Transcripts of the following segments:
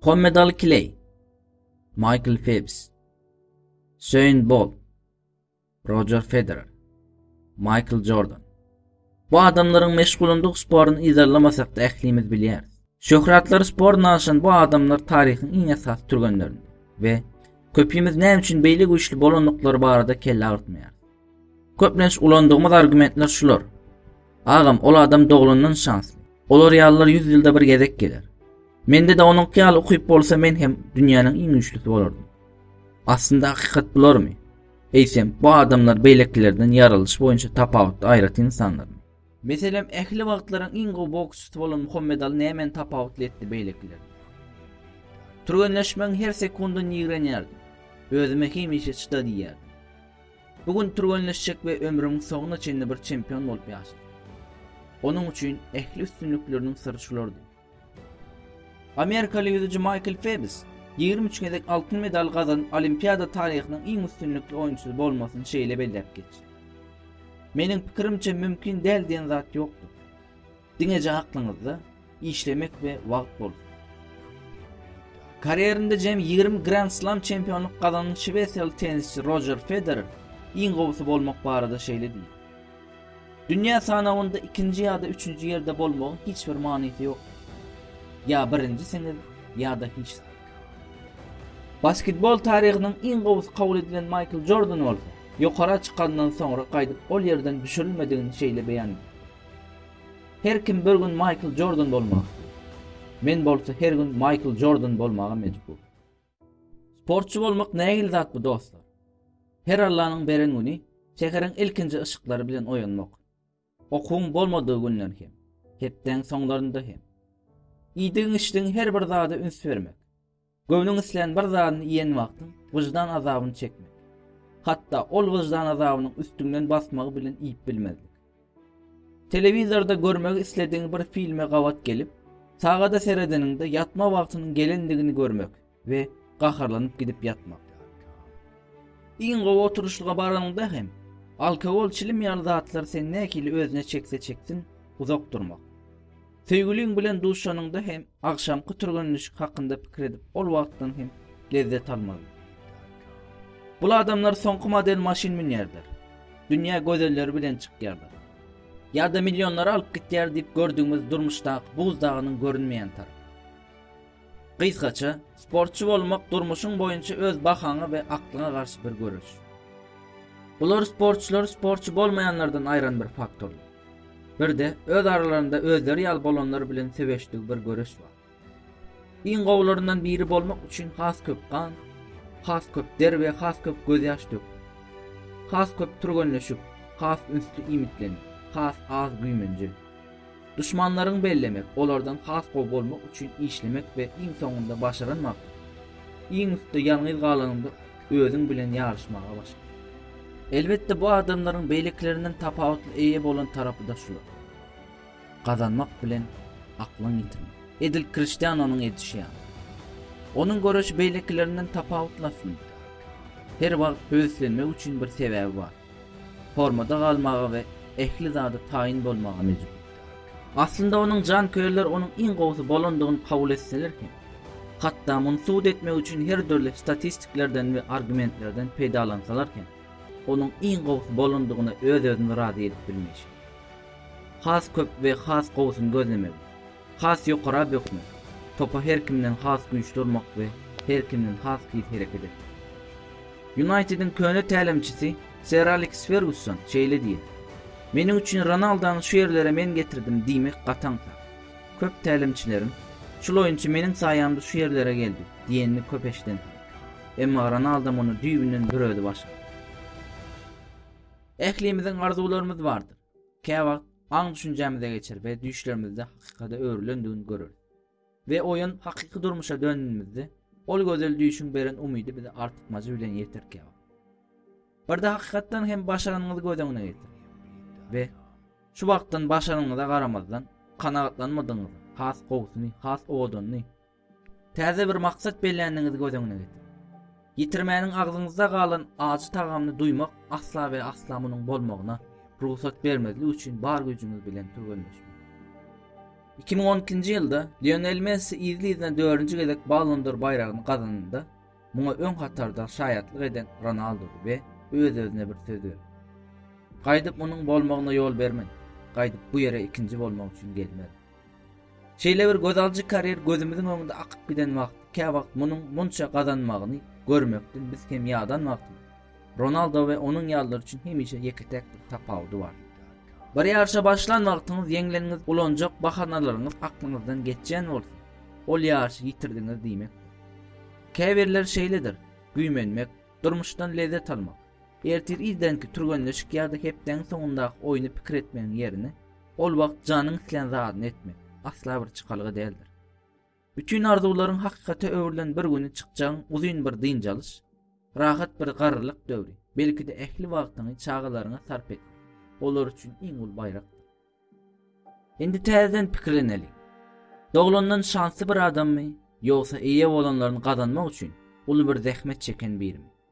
Hommed Al Kley, Michael Phelps, Söýün Bol, Roger Federer, Michael Jordan. Bu adamlaryň meşgulandyk sporun yzarlamasak da ählimiz bilýäris. Şöhratlar spor naşan bu adamlar taryhyň iň esas türgenlerinde we köpimiz näme üçin beýle güýçli bolandyklary barada kelle agyrtmaýar. Köplenç ulandygymyz argumentler şular. Agam, ol adam doglandan şansly. Olar ýalylar ýüz ýylda bir gezek geler. Mende-de onuňky ýaly ukyp bolsa men hem dünýäniň iň güýçlüsi bolardym. Aslynda hakykat bularmy? Eýsem, bu adamlar beýlekilerden ýaralyş boýunça tapawutly aýratyn insanlarmy? Meselem, ähli wagtlaryň iň gowy boksçysy bolan Muhammedaly nämeni tapawutly etdi beýlekilerden? Türgenleşmegiň her sekundyny ýigrenýärdim. Özüme hemişe çyda diýýärdim. Bu gün türgenleşjek we ömrümiň soňuna çenli bir çempion bolup ýaşajak. Onuň üçin ähli üstünlikleriniň syry şulardy. Amerikaly ýüzüji Maýkl Febs ýigrimi üç gezek altyn medal gazanyp, Olimpiada taryhynyň iň üstünlikli oýunçysy bolmasyny şeýle belläp geçdi. Meniň pikirimçe mümkin däl diýen zat ýokdur. Diňeje aklyňyzda işlemek we wagt bolsun. Karýerinde jemi 20 Grand Slam çempionlyk gazanan şwesiýaly tennisçi Roger Federer iň gowusy bolmak barada şeýle diýdi. Dünýä sanawynda ikinji ýa-da üçünji ýerde bolmagyň hiç bir manysy ýokdur. Ýa birinjisiňiz, ýa-da hiç zat. Basketbol taryhynyň iň gowusy kabul edilen Maýkl Jordan bolsa, ýokara çykanyndan soňra gaýdyp ol ýerden düşürilmedigini şeýle beýan etdi, Her kim bir gün Maýkl Jordan bolmak isleýär. Men bolsa her gün Maýkl Jordan bolmaga mejbur. Sportçy bolmak nähili zat bu dostlar? Her Allanyň beren güni säheriň ilkinji yşyklary bilen oýanmak. Okuwyň bolmadygy günden hem, hepdäň soňlarynda hem. Iýdigiň içdigiň her bir zada üns bermek. Göwnüň islän bir zadyny iýen wagtyň wyždan azabyny çekmek. Hatda ol wyždan azabynyň üstüňden basmagy bilen iýip bilmezlik. Telewizorda görmek isledigiň bir filme gabat gelip, sagada seredeniňde ýatma wagtynyň gelendigini görmek we gaharlanyp gidip ýatmak. Iň gowy oturyşlyga baranyňda hem, alkogol, çilim ýaly zatlar seni nähili özüne çekse çeksin, uzak durmak. Söýgüliň bilen duşanyňda hem agşamky türgenleşik hakynda pikir edip, ol wagtdan hem lezzet almaly. Bul adamlar soňky model maşyn münýärler. Dünýä gözelleri bilen çykýarlar. Ýa-da millionlary alyp gitýär diýip gördügimiz durmuşdaky buz dagynyň görünmeýän tarapy. Gysgaça, sportçy bolmak durmuşyň boýunça öz bahaňa we aklyňa garşy bir göreş. Bular sportçylary sportçy bolmaýanlardan aýran bir faktorlar. Bir-de öz aralarynda özleri ýaly bolanlar bilen söweşdigi bir göreş bar. Iň gowularyndan biri bolmak üçin has köp gan, has köp der we has köp gözýaş dök. Has köp türgenleşip, has ünsli iýmitlenip, has az güýmenje. Duşmanlaryňy bellemek, olardan has gowy bolmak üçin işlemek we iň soňunda başaranmak, iň üstde ýalňyz galanyňda özüň bilen ýaryşmaga başla. Elbetde bu adamlaryň beýlekilerinden tapawutly eýe bolan tarapy-da şular. Gazanmak bilen aklyňy ýitirme. Edil Kriştianonyň edişi ýaly. Onuň göreşi beýlekilerinden tapawutly aslynda. Her wagt höweslenmek üçin bir sebäbi bar. Formada galmaga we ähli zada taýyn bolmaga mejbur. Aslynda onuň janköýerler onuň iň gowusy bolandygyny kabul etseler hem, hatda muny subut etmek üçin her dürli statistiklerden we argumentlerden peýdalansalar hem, onuň iň gowusy bolandygyna öz-özüni razy edip bilmeýşi. Has köp we has gowusyny gözlemeli. Has ýokara bökme. Topa her kimden has güýçli urmak we her kimden has tiz hereket etmek. Ýunaýtediň köne tälimçisi Ser Aleks Fergusson şeýle diýýär, Meniň üçin Ronaldony şu ýerlere men getirdim diýmek gaty aňsat. Köp tälimçileriň, Şul oýunçy meniň saýamda şu ýerlere geldi diýenini köp eşidensiňiz. Emma Ronaldo muny düýbünden bir özi başardy. Ählimiziň arzuwlarymyz bardyr. Käwagt aň-düşünjämize geçer we düýşlerimizde hakykata öwrülendigini göreris. We oýun hakyky durmuşa döndündimizde, ol gözel düýşüň beren umydy bize artykmajy bilen ýeter käwagt. Birde hakykatdan hem başaranyňyzy göz öňüne getir. We şu wagtdan başaranyňyza garamazdan, kanagatlanmadygyňyzy, has gowusyny, has owadanny, Täze bir maksat belländigiňizi göz öňüne getiriň. Ýitirmäniň agzyňyzda galan ajy tagamyny duýmak asla we asla munuň bolmagyna rugsat bermezlik üçin bar güýjüňiz bilen türgenleşmek. 2012-nji ýylda Lionel Messi yzly-yzyna dördünji gezek Ballon d'Or baýragyny gazananda, muňa öň hatarda şaýatlyk eden Ronaldo we öz-özüne bir söz berdi. Gaýdyp munuň bolmagyna ýol bermen. Gaýdyp bu ýere ikinji bolmak üçin gelmerin. Şeýle bir göz alyjy karýer gözümiziň öňünde akyp giden wagt, käwagt munuň munça gazanmagyny görmekden biz hem ýadan wagtymyz. Ronaldo we onuň ýalylar üçin hemişe ýeke-täk bir tapawudy bar. Bir ýaryşa başlan wagtyňyz ýeňleniňiz ulanjak bahanalaryňyz aklyňyzdan geçýän bolsa, ol ýaryşy ýitirdiňiz diýmekdir. Käbirleri şeýledir, güýmenmek, durmuşdan lezzet almak, ertir irdenki türgenleşik ýa-da hepdäniň soňundaky oýny pikir etmegiň ýerine, Ol wagt janyň islän zadyny etmek, asla bir çykalga däldir. Bütin arzuwlaryň hakykata öwrülen bir güni çykjagyň uzyn bir dynç alyş, rahat bir garrylyk döwri, belki-de ähli wagtyňy çagalaryňa sarp et. Olar üçin iň uly baýrak. Indi täzeden pikirleneli. Doglandan şansly bir adammy, ýogsa eýe bolanlaryny gazanmak üçin uly bir zähmet çeken birimi?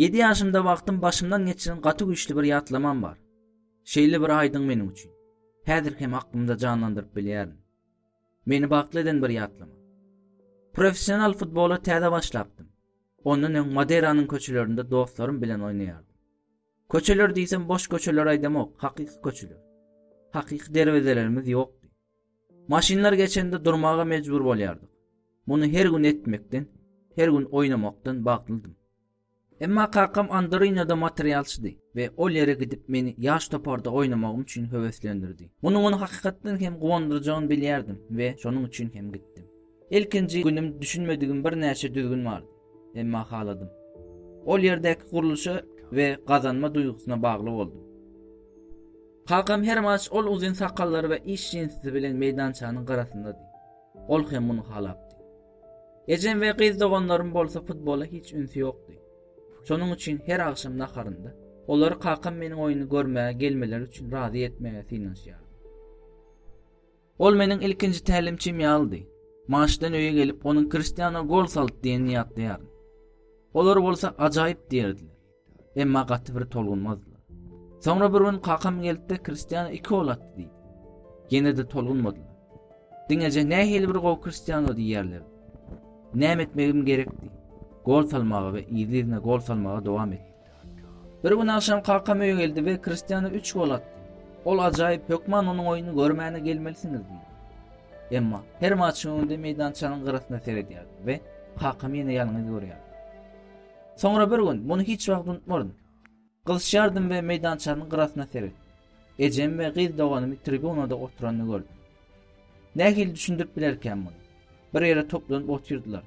Ýedi ýaşymda wagtym başymdan geçiren gaty güýçli bir ýatlamam bar. Şeýle bir aýdyň meniň üçin. Häzir hem aklymda janlandyryp bilýärin. Meni bagtly eden bir ýatlama. Professional futbola täze başlapdym. Ondan öň Madeýranyň köçelerinde dostlarym bilen oýnaýardym. Köçeler diýsem boş köçeler aýdamok, hakyky köçeler. Hakyky derwezelerimiz ýokdy. Maşynlar geçende durmaga mejbur bolýardyk. Muny her gün etmekden, her gün oýnamakdan bagtlydym. Emma kakam Andorinada materialçydy we ol ýere gidip meni ýaş toparda oýnamagym üçin höweslendirdi. Munuň ony hakykatdan hem guwandyrjagyny bilýärdim we şonuň üçin hem gitdim. Ilkinji günüm düşünmedigim birnäçe düzgün bardy. Emma haladym. Ol ýerdäki gurluşa we gazanma duýgusyna bagly boldum. Kakam her maç ol uzyn sakallary we iş jinsisi bilen meýdançanyň gyrasyndady. Ol hem muny halapdy. Ejem we gyz doganlarym bolsa futbola hiç ünsi ýokdy. Şonuň üçin her agşam naharynda olary kakam meniň oýny görmäge gelmeleri üçin razy etmäge synanyşýardy. Ol meniň ilkinji tälimçim ýalydy. Maçdan öýe gelip, onuň Kristiano gol saldy diýenini ýatlaýaryn. Olar bolsa ajaýyp diýerdiler. Emma gaty bir tolgunmazdylar. Soňra bir gün kakam gelip-de Kristiano iki gol atdy diýdi. Ýene-de tolgunmadylar. Diňeje nähili bir gowy Kristiano diýýärler. Näme etmegim gerekdi? Gol salmaga we yzly-yzyna gol salmaga dowam etdi. Bir gün agşam kakam öýe geldi we Kristiana üç gol atdy. Ol ajaýyp hökman onuň oýuny görmäne gelmelisiňiz diýdi. Emma her maçyň öňünde meýdançanyň gyrasyna seredýärdim we kakamy ýene ýalňyz görýärdim. Soňra bir gün, muny hiç wagt unutmaryn, gyzşýardym we meýdançanyň gyrasyna seretdim. Ejemi we gyz doganymy tribunada oturanyny gördüm. Nähili düşündirip bilerkäm muny? Bir ýere toplanyp otyrdylar.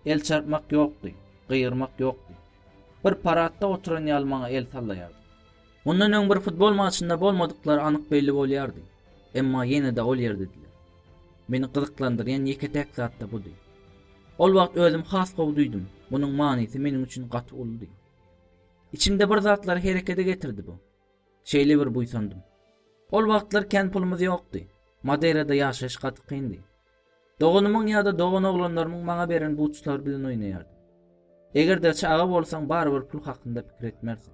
El çarpmak ýokdy, gygyrmak ýokdy. Bir paradda oturan ýaly maňa el sallaýardy. Mundan öň bir futbol maçynda bolmadyklary anyk belli bolýardy. Emma ýene-de ol ýerdediler. Meni gyzyklandyrýan ýeke-täk zat-da budy. Ol wagt özüm has gowy duýdum, munuň manysy meniň üçin gaty uludy. Içimde bir zatlary herekede getirdi bu. Şeýle bir buýsandym. Ol wagtlar kän pulumyz ýokdy. Madeýrada ýaşaýyş gaty kyndy. Doganymyň ýa-da doganoglanlarymyň maňa beren buçlary bilen oýnaýardym. Eger-de çaga bolsaň, barybir pul hakynda pikir etmersiň.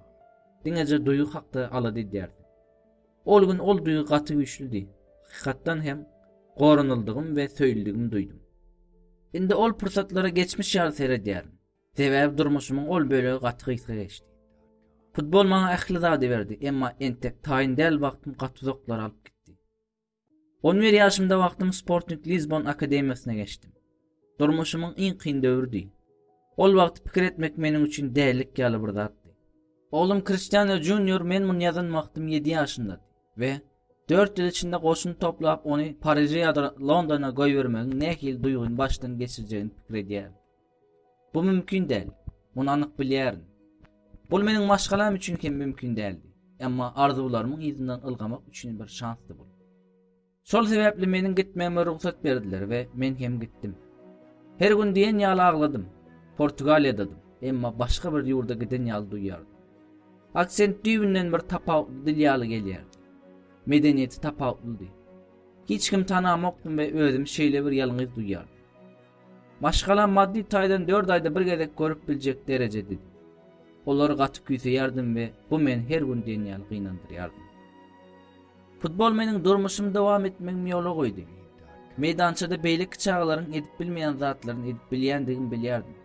Diňeje duýgy hakda alada edýärsiň. Ol gün ol duýgy gaty güýçlüdi. Hakykatdan hem, goranyldygym we söýüldigimi duýdum. Indi ol pursatlara geçmiş ýaly seredýärin. Sebäbi durmuşymyň ol bölegi gaty gysga geçdi. Futbol maňa ähli zady berdi, emma entek taýyn däl wagtym gaty uzaklara alyp gitdi. On bir ýaşymda wagtym Sporting Lisbon akademiýasyna geçdim. Durmuşymyň iň kyn döwrüdi. Ol wagt pikir etmek meniň üçin dälilik ýaly bir zatdy. Oglum Kristiano Junior men muny ýazan wagtym ýedi ýaşyndady we dört ýyl içinde goşun toplap ony Pariže ýa-da Londona goýbermegiň nähili duýgyny başdan geçirjegini pikir edýärdi. Bu mümkin däl. Muny anyk bilýärin. Bul meniň maşgalam üçin hem mümkin däldi. Emma arzuwlarymyň yzyndan ylgamak üçin bir şansdy bul. Şol sebäpli meniň gitmegime rugsat berdiler we men hem gitdim. Her gün diýen ýaly agladym. Portugaliýadadym, emma başga bir ýurda giden ýaly duýýardym. Aksent düýbünden bir tapawutly dil ýaly gelýärdi. Medeniýeti tapawutlydy. Hiç kim tanamokdym we özümi şeýle bir ýalňyz duýýardym. Maşgalam maddy taýdan dört aýda bir gezek görüp biljek derejedi. Olary gaty küýseýärdim we bu meni her gün diýen ýaly gynandyrýardy. Futbol meniň durmuşymy dowam etmegimi ýola goýdy. Meýdançada beýleki çagalaryň edip bilmeýän zatlaryny edip bilýändigimi bilýärdim.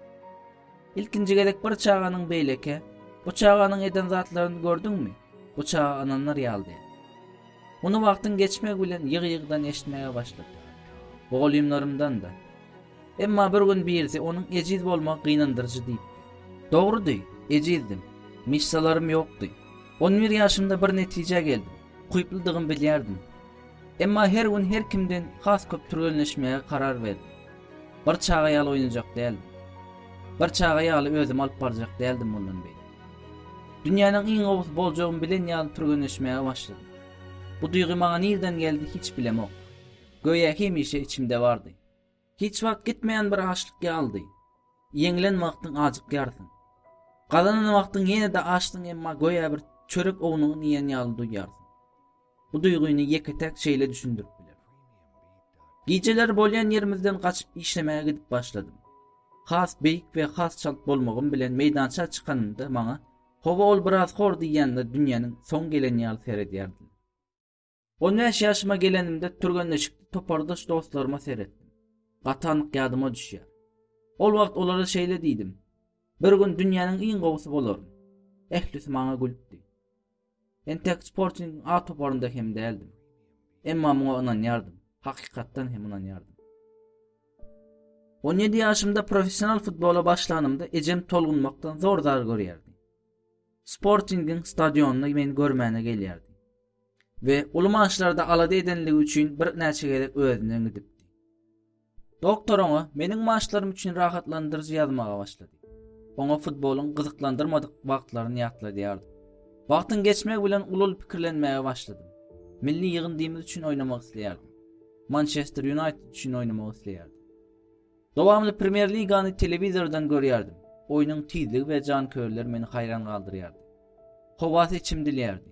Ilkinji gezek bir çaganyň beýleki, Bu çaganyň eden zatlaryny gördüňmi? Bu çaga ynandyr ýaldy. Muny wagtyň geçmegi bilen ýygy-ýygydan eşitmäge başlady. Mugallymlarymdan-da. Emma bir gün birisi onuň ejiz bolmagy gynandyryjy diýipdi. Dogrudy, ejizdim. Myşsalarym ýokdy. On bir ýaşymda bir netijä geldim. Ukyplydygymy bilýärdim. Emma her gün her kimden has köp türgenleşmäge karar berdim. Bir çaga ýaly oýnajak däldim. Bir çaga ýaly özümi alyp barjak däldim mundan beýläk. Dünýäniň iň gowusy boljagymy bilen ýaly türgenleşmäge başladym. Bu duýgy maňa nirden geldi hiç bilemok. Göýä hemişe içimde bardy. Hiç wagt gitmeýän bir açlyk ýalydy. Ýeňlen wagtyň ajykýarsyň. Gazanan wagtyň ýene-de açsyň emma göýä bir çörek ownuňy iýen ýaly duýýarsyň. Bu duýgyny ýeke-täk şeýle düşündirip biler. Gijeleri bolýan ýerimizden gaçyp işlemäge gidip başladym. Has beýik we has çalt bolmagym bilen meýdança çykanymda maňa Hawa ol biraz hor diýýänler dünýäniň soň geleni ýaly seredýärdiler. On bäş ýaşyma gelenimde türgenleşikde topardaş dostlaryma seretdim. Gaty anyk ýadyma düşýär. Ol wagt olara şeýle diýdim. Bir gün dünýäniň iň gowusy bolaryn. Ählisi maňa gülüpdi. Entek Sporting A toparynda hem däldim. Emma muňa ynanýardym, hakykatdan hem ynanýardym. 17 ýaşymda professional futbola başlanymda ejem tolgunmakdan zor zar görýärdi. Sportingiň stadionyny meni görmäne gelýärdi. we uly maçlarda alada edenligi üçin bir näçe gezek özünden gidipdi. Doktor oňa meniň maşlarym üçin rahatlandyryjy ýazmaga başlady. Oňa futbolyň gyzyklandyrmadyk wagtlaryny ýatladýardy. Wagtyň geçmegi bilen uly pikirlenmäge başladym. Milli ýygyndymyz üçin oýnamak isleýärdim. Mançester Ýunaýted üçin oýnamak isleýärdim. Dowamly Premýer-ligany telewizordan görýärdim. Oýnuň tizligi we janköýerler meni haýran galdyrýardy. Howasy içimdilýärdi.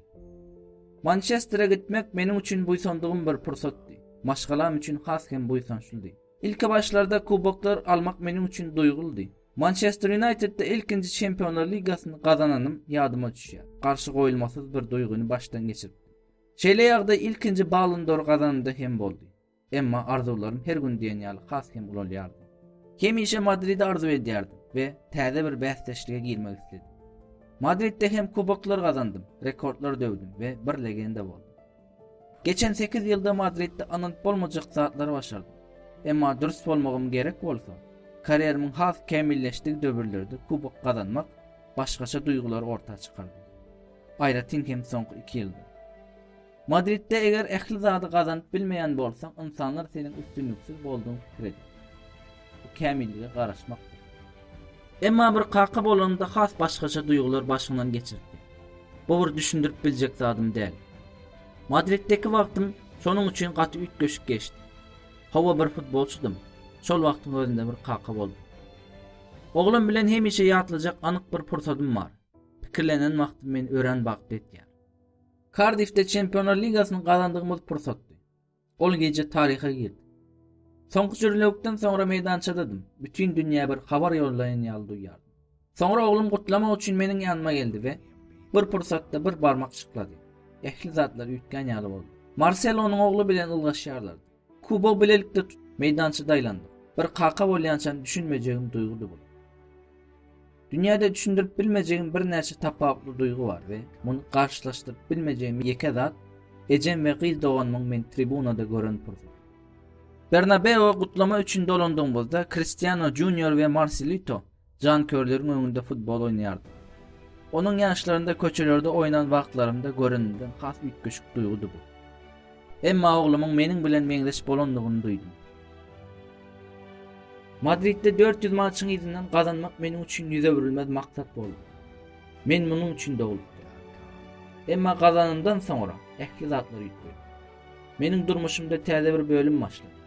Mançestere gitmek meniň üçin buýsandygym bir pursatdy. Maşgalam üçin has hem buýsançlydy. Ilki başlarda kuboklar almak meniň üçin duýguldy. Mançester Ýunaýtedde ilkinji Çempionlar ligasyny gazananym ýadyma düşýär. Garşy goýulmasyz bir duýgyny başdan geçiripdim. Şeýle ýagdaý ilkinji Ballon d'Or gazanymda hem boldy. Emma arzuwlarym her gün diýen ýaly has hem ulalýardy. Hemişe Madridi arzuw edýärdim we täze bir bäsdeşlige girmek isledim. Madridde hem kuboklar gazandym, rekordlar döwdüm we bir legenda boldum. Geçen sekiz ýylda Madridde ynanyp bolmajak zatlary başardym. Emma dürs bolmagym gerek bolsa, karýerimiň has kämilleşdigi döwürlerde kubok gazanmak başgaça duýgulary orta çykardy. Aýratyn hem soňky iki ýylda. Madridde eger ähli zady gazanyp bilmeýän bolsaň, ynsanlar seniň üstünliksiz boldugyň pikir eder. Bu kämillige garaşmakdyr. Emma bir kaka bolanymda has başgaça duýgular başymdan geçiripdi. Bu bir düşündirip biljek zadym däl. Madriddeki wagtym şonuň üçin gaty üýtgeşik geçdi. Hawa bir futbolçydym. Şol wagtyň özünde bir kaka boldum. Oglum bilen hemişe ýatlajak anyk bir pursadym bar. Pikirlenen wagtym men örän bagtly etýär. Kardifde Çempionlar ligasyny gazandygymyz pursatdy. Ol gije taryha girdi. Soňky jürlewikden soňra meýdançadadym. Bütin dünýä bir habar ýollaýan ýaly duýýardym. Soňra oglum gutlamak üçin meniň ýanyma geldi we bir pursatda bir barmak çyklady. Ähli zatlar üýtgän ýaly boldy. Marsel onuň ogly bilen ylgaşýarlardy. Kubo bilelikde tut, meýdançada aýlandyk. Bir kaka bolýançam düşünmejegim duýgudy bu. Dünýäde düşündirip bilmejegim birnäçe tapawutly duýgy bar we muny garşylaşdyryp bilmejegim ýeke zat ejem we gyz doganymyň meni tribunada gören pursaty. Bernabeu gutlama üçin dolandygymyzda Kristiano Junior we Marsilito Janköýerleriň öňünde futbol oýnaýardym. Onuň ýaşlarynda köçelerde oýnan wagtlarymda göreninden has üýtgeşik duýgudy bu. Emma oglumyň meniň bilen meňzeş bolandygyny duýdum. Madridde 400 maçyň yzyndan gazanmak meniň üçin ýüz öwrülmez maksat boldy. Men munuň üçin doglupdym. Emma gazanandan soňra ähli zatlar üýtgedi. Meniň durmuşymda täze bir bölüm başlady.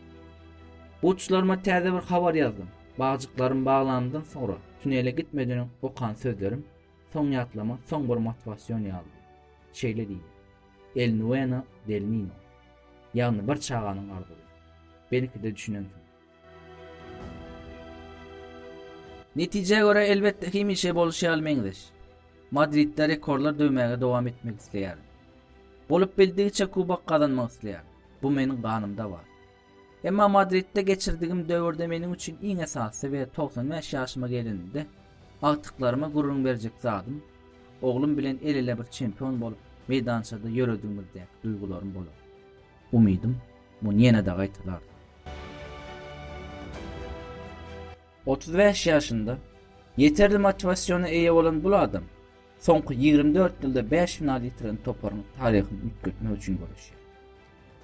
Uçlaryma täze bir habar ýazdym. Bagjyklarym baglanyndan soňra tunele gitmeden okan sözlerim soň ýatlama soň bir motiwasion ýalydy. Şeýle diýdi. El nueno del nino. Ýagny bir çaganyň arzuwy. Belki-de düşünensiň. Netijä görä elbetde hemişe bolşy ýaly meňzeş. Madridde rekordlar döwmäge dowam etmek isleýärin. Bolup bildigiçe kubok gazanmak isleýärin. Bu meniň ganymda bar. Emma Madridde geçirdigim döwürde meniň üçin iň esasy we togsan bäş ýaşyma gelenimde agtyklaryma gürrüň berjek zadym, oglum bilen el-ele bir çempion bolup meýdançada ýöredigimizdäki duýgularym bolar. Umydym, muny ýene-de gaýtalardy. Otuz bäş ýaşynda ýeterli motiwasiona eýe bolan bul adam soňky ýigrimi dört ýylda bäş final ýitiren toparyň taryhyny üýtgetmek üçin göreşýär.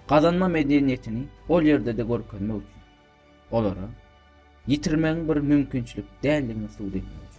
Gazanma medeniýetini ol ýerde-de görkezmek üçin, olara ýitirmegiň bir mümkinçilik däldigini subut etmek üçin.